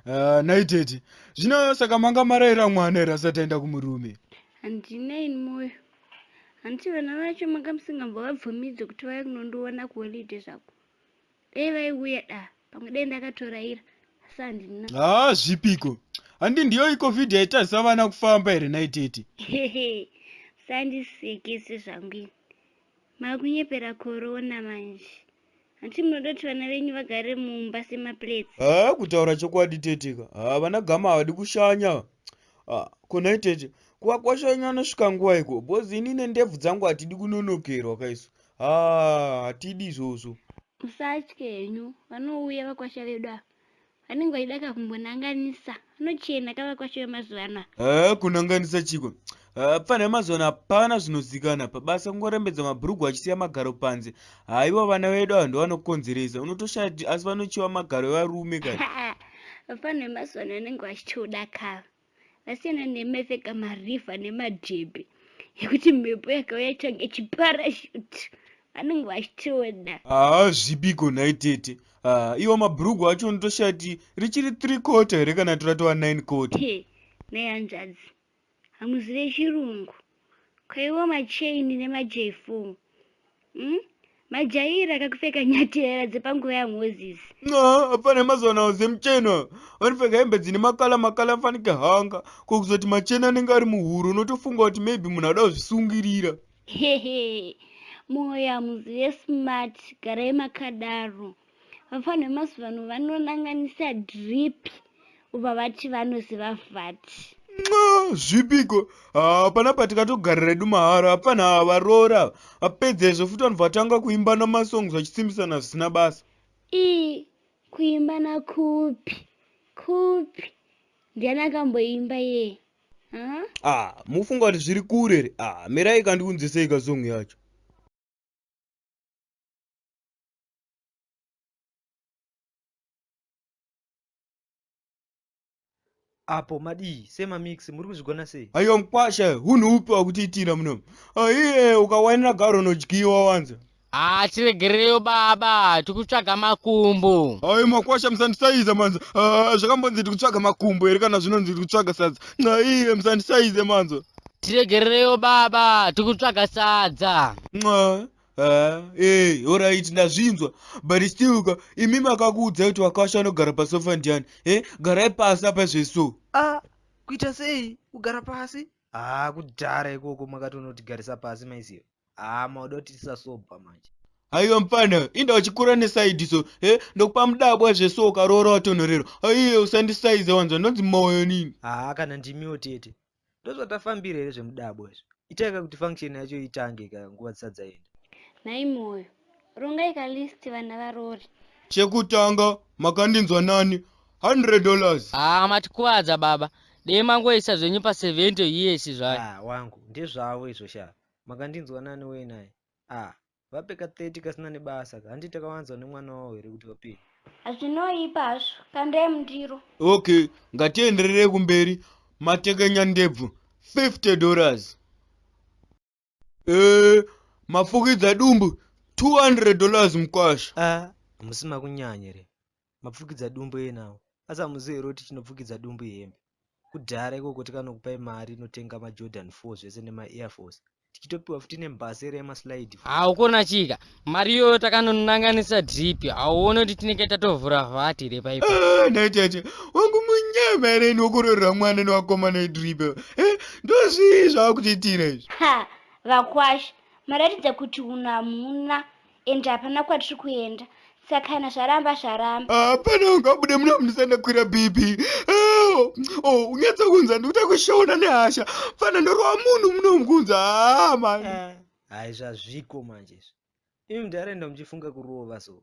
Ah, nhai tete zvino saka manga maraira mwana here asati aenda kumurume handinei mwoyo handiti vana vacho manga musingambovabvumidze kuti vauye kunondiona kuholiday zvako dai vaiuya da pamwe dai ndakatoraira asi handina haa ah, zvipiko handi ndiyo icovid yaitadzisa vana kufamba here naitete sandisekese zvangu ini makunyepera korona manje hanti munoda kuti vana venyu vagare mumba semaplates haa ah, kutaura chokwadi teteka haa ah, vana gama havadi kushanya konai tete kuvakwashanya anosvika nguva iko bhozi inine ndebvu dzangu hatidi kunonokerwa kaiso haa hatidi izvozvo musatye henyu vanouya vakwasha vedu ava vanenge vachida ka kumbonanganisa vanochena ka vakwasha vemazuva ano haa kunanganisa chiko pfanha yemazuva ano hapana zvinozikana pabasa kungorembedza mabhurugwa achisiya magaro panze haiwa vana vedu ava ndovanokonzeresa unotoshaya kuti asi vanochiwa magaro evarume kana vapfanha vemazuva ano vanenge vachitoda kava vasiyana nemeseka mariva nemadhebhe ekuti mhepo yakauya change chiparashuti vanenge vachitoda haa zvipiko nhai tete haa iwo mabhurugu acho ndotoshati richiri three quarter here kana toratova nine quarter nai hanzvadzi hamuzive chirungu kwaiwo machain nemajefu mm? majaira akakupfeka nyaterera dzepanguva yamoses no hapana mazuva nawo zemuchena vanopfeka hembe dzine makala makala afanike hanga ko kuzoti machena anenge ari muhuro unotofunga kuti maybe munhu ada kuzvisungirira hehe moyo hamuzive smart garai makadaro vafana vemazuva ano vanonanganisa drip uva vati vanoziva vati zvipiko hapana patikatogarira redu mahara hapana havaroora apedza izvo futi vanhu vatanga kuimba namasongs vachisimbisana zvisina basa ii kuimba nakupi kupi ndiani akamboimba yee ah mufunga kuti zviri kure re ah mirai kandiunzisei kasong yacho apo madii semamix muri kuzvigona sei aiwa mkwasha hunhu upi wakutiitira muno aiye ukawainira garo unodyiwa wanza haa tiregereyo baba tikutsvaga makumbo ai makwasha musandisaize manza Ah, zvakambonzi tikutsvaga makumbo here kana zvinonzi tikutsvaga sadza aiye musandisaize manza tiregereyo baba tikutsvaga sadza Nxa, Ah, eh, alright ndazvinzwa but still ka imi makakuudza kuti wakasha anogara pasofa ndiani eh garai pasi apa zveso a kuita sei kugara pasi haa kudhara ikoko makati unotigarisa pasi maiziva haa mauda kuti tisasobva manje haiwa mfana inda uchikura nesaidi so eh ndokupa mudabwa zveso ukaroora watonhorerwa aiye usandisaiza wanzwa ndonzi moyo nini haa kana ndimiwo tete ndozvatafambira here zvemudabo izvo itai ka kuti function yacho itange ka nguva dzisati dzaenda nhai moyo rongai ka list vana varori chekutanga makandinzwa nani 100 dollars haa ah, matikuvadza baba dei mangoisa zvenyu pa 70 years zvayo ah, wangu ndezvavo izvo shaa makandinzwa nani wei naye ah Vape ka 30 kasina nebasa ka handiti takawanzwa nemwana wavo here kuti vapei? Hazvinoipa hazvo, kandai mundiro. Okay, ngatienderere kumberi. Matekenya ndebvu 50 dollars. Eh, mafukidza dumbu 200 dollars mkwasha. Ah, hamusi makunyanya here? Mapfukidza dumbu enawo. Asi hamuzivi here kuti chinopfukidza dumbu ihembe? kudhara ikoko tikanokupai mari inotenga majordan four zvese nemaair force tichitopiwa futi nembhasera yemaslide haukona chika mari iyoyo takanonanganisa drip hauone kuti tinenge tatovhura vhati here paipo ah, natete wangu munyama here inokororera mwana newakomana wedrip eh, ndozvii zvaakutiitira izvi vakwasha maratidza kuti unamuna ende hapana kwatiri kuenda saka kana zvaramba zvaramba hapana ungabude muna mundisandakwira bhipi oh, oh, unyatsa kunza ndikuta kushona nehasha fana ndorova munhu munomukunza hama ah, ah, hai zvazviko manje izvi imi mudhara enda muchifunga kurova so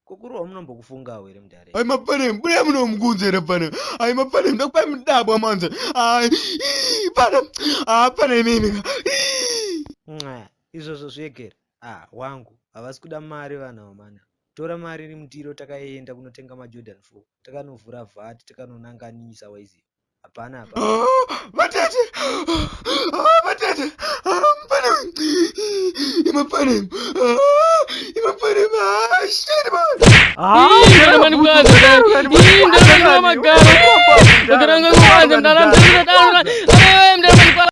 kokurohwa munombokufungawo here mudhara ai mapane mbuya munomukunza here pane ai mapane ndokupai mudabwa manje ai pana hapana imimika izvozvo zvegere Ah wangu havasi kuda mari vanhu ava mhani tora mari iri mundiro takaenda kunotenga majordan four takanovhura vat takanonanganisa waiziva hapana apa vatete vatete mupane imapane imapane mashirima Mani kwanza Ii mdamani kwa magaro Mdamani kwanza mdamani kwanza Mdamani kwanza